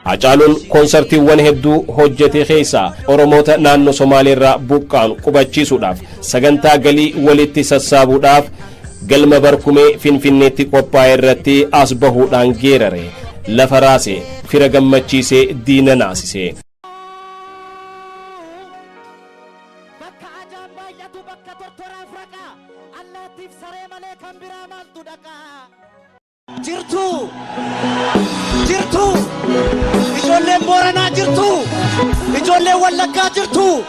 Hacaaluun konsartiiwwan hedduu hojjete keessaa Oromoota naannoo Somaaleerraa buqqaan qubachiisuudhaaf sagantaa galii walitti sassaabuudhaaf galma barkumee Finfinneetti qophaa'e irratti as bahuudhaan geerare lafa raase fira gammachiisee diina naasise. Bakka ajaan baay'atu bakka tortoraaf raqaa allaattiif saree malee kan biraa maaltu dhaqaa. Jirtuu! Jirtuu! Ijoolleen Booranaa jirtuu! Ijoolleen Wallaggaa jirtuu!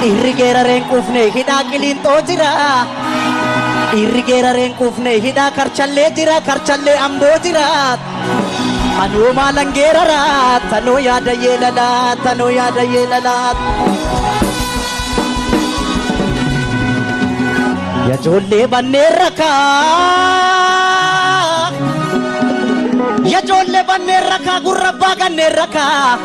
Dhiirri geeraree hin quufne hidhaa qiliinxoo jira. Dhiirri geeraree hin quufne hidhaa karchallee jira karchallee amboo jira. Anoo maalan geerara tanoo yaada yeelala tanoo yaada yeelala. Ya ijoollee bannee rakaa. Ya ijoollee bannee rakaa gurra abbaa gannee rakaa.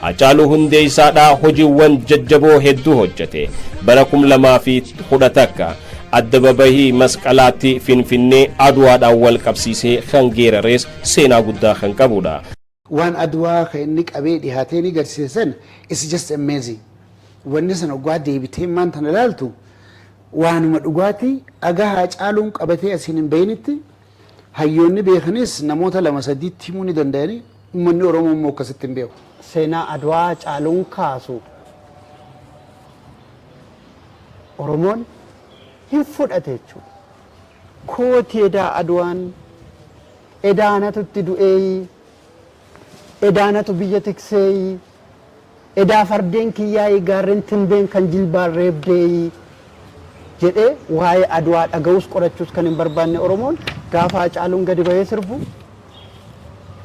Hacaaluu Hundeessaa dha hojiiwwan jajjaboo hedduu hojjete. Bara 2011 Addababahii Masqalaatti Finfinnee Adwaadhaan wal qabsiisee kan geerarees seenaa guddaa kan qabu dha. Waan Adwaa kan inni qabee dhihaatee inni garsiise san it's just amazing. Wanni san oggaa deebitee ammaan tana laaltu waanuma dhugaati haga Haacaaluun qabatee asiin hin bahinitti Hayyoonni beekanis namoota lama sadiitti himuu ni dandayani. Ummanni Oromoo immoo akkasitti hin beeku. Seenaa Adwaa caaluun kaasu Oromoon hin fudhate jechuudha. Kooti edaa Adwaan, edaa anatu itti du'eeyi, edaa anatu biyya tikseeyi, Edaa fardeen kiyyaayii gaarren Tinbeen kan jilbaan reebdeeyii jedhee waa'ee Adwaa dhaga'uus qorachuus kan hin barbaanne Oromoon gaafa Hacaaluun gadi bahee sirbu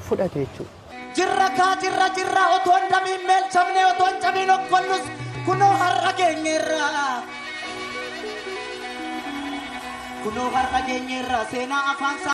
fudhate jechuudha. Jirra kaa jirra jirra otoo hin damiin meelchamne otoo hin cabiin okkollus kunoo har'a geenyeerra. Kunoo har'a geenyeerra seenaa afaan isaa.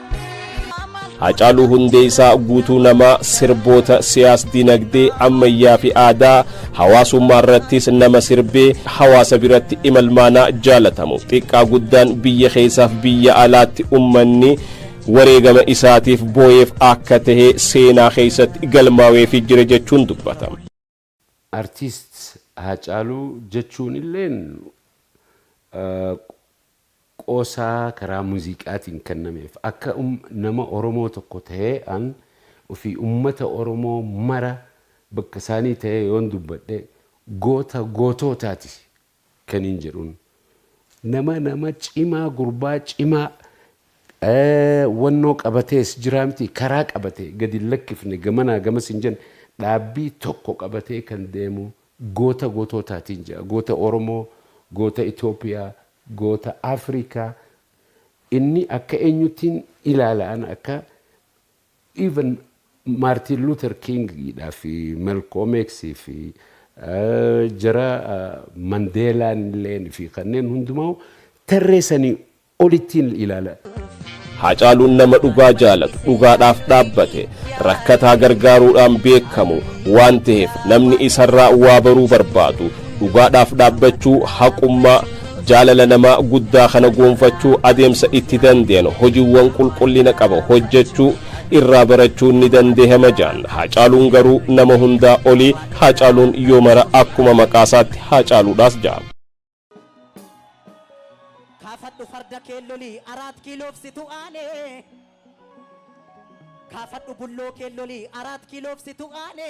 Hacaaluu Hundeessaa guutuu namaa sirboota siyaas dinagdee ammayyaa fi aadaa hawaasummaa irrattis nama sirbee hawaasa biratti imalmaanaa jaalatamu xiqqaa guddaan biyya keessaaf biyya alaatti ummanni wareegama isaatiif booyeef akka tahe seenaa keessatti galmaawee fi jira jechuun dubbata. Artist Haacaaluu jechuun illeen qoosaa karaa muziiqaatiin kennameef. Akka nama Oromoo tokko tahee an ufii ummata Oromoo mara bakka isaanii tahee yoon dubbadhe goota gootootaati kanin jedhun nama nama cimaa gurbaa cimaa wannoo qabatee as jiraa miti karaa qabatee gadi hin lakkifne gamanaa gamas hin jenne dhaabbii tokko qabatee kan deemu goota gootootaatiin jedha goota oromoo goota itoophiyaa goota afrikaa inni akka eenyuttiin ilaala an akka Even Martin Luther King dha fi Malcom X fi jara Mandela illeen fi kanneen hundumaa'u tarree sanii olittiin ilaala. Haacaaluun nama dhugaa jaalatu, dhugaadhaaf dhaabbate, rakkataa gargaaruudhaan beekamu waan taheef namni isarraa waa baruu barbaadu dhugaadhaaf dhaabbachuu, haqummaa, Jaalala nama guddaa kana goonfachuu adeemsa itti dandeenu hojiwwan qulqullina qaba hojjechuu irraa barachuun ni dandeehama jaan. Haacaaluun garuu nama hundaa olii Haacaaluun yoo mara akkuma maqaasaatti Haacaaluudhaas jaa. Kaafadhu farda kee loli araat kiiloof situ aane. Kaafadhu bulloo kee loli araat kiiloof situ aane.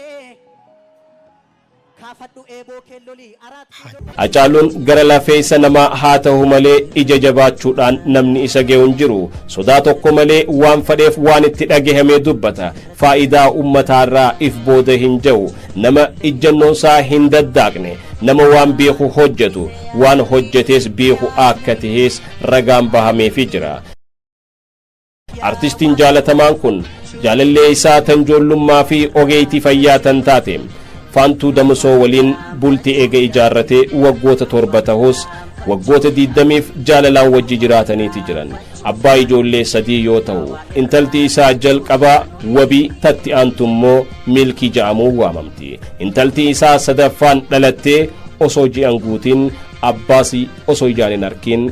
Kaafadhu eeboo kee lolii araat kee lolii. Hacaaluun gara lafeeysa namaa haa tahu malee ija jabaachuudhaan namni isa gehu hin jiru. Sodaa tokko malee waan fadheef waan itti dhagahame dubbata. Faayidaa ummataa irraa if booda hin jahu. Nama ijjannoon isaa hin daddaaqne. Nama waan beeku hojjatu. Waan hojjatees beeku akka tahees ragaan bahameefi jira. Artistiin jaalatamaan kun jaalallee isaa tan joollummaa fi ogeeytii fayyaa tan taate Faantuu Damusoo waliin bulti eega ijaarrate waggoota torba tahus waggoota diiddamiif jaalalaan wajji jiraataniiti jiran. Abbaa ijoollee sadii yoo tahu intalti isaa jalqabaa wabii tatti aantu immoo miilkii ja'amuun waamamti. Intalti isaa sadaffaan dhalattee osoo ji'an guutiin abbaasi osoo ijaan hin arkiin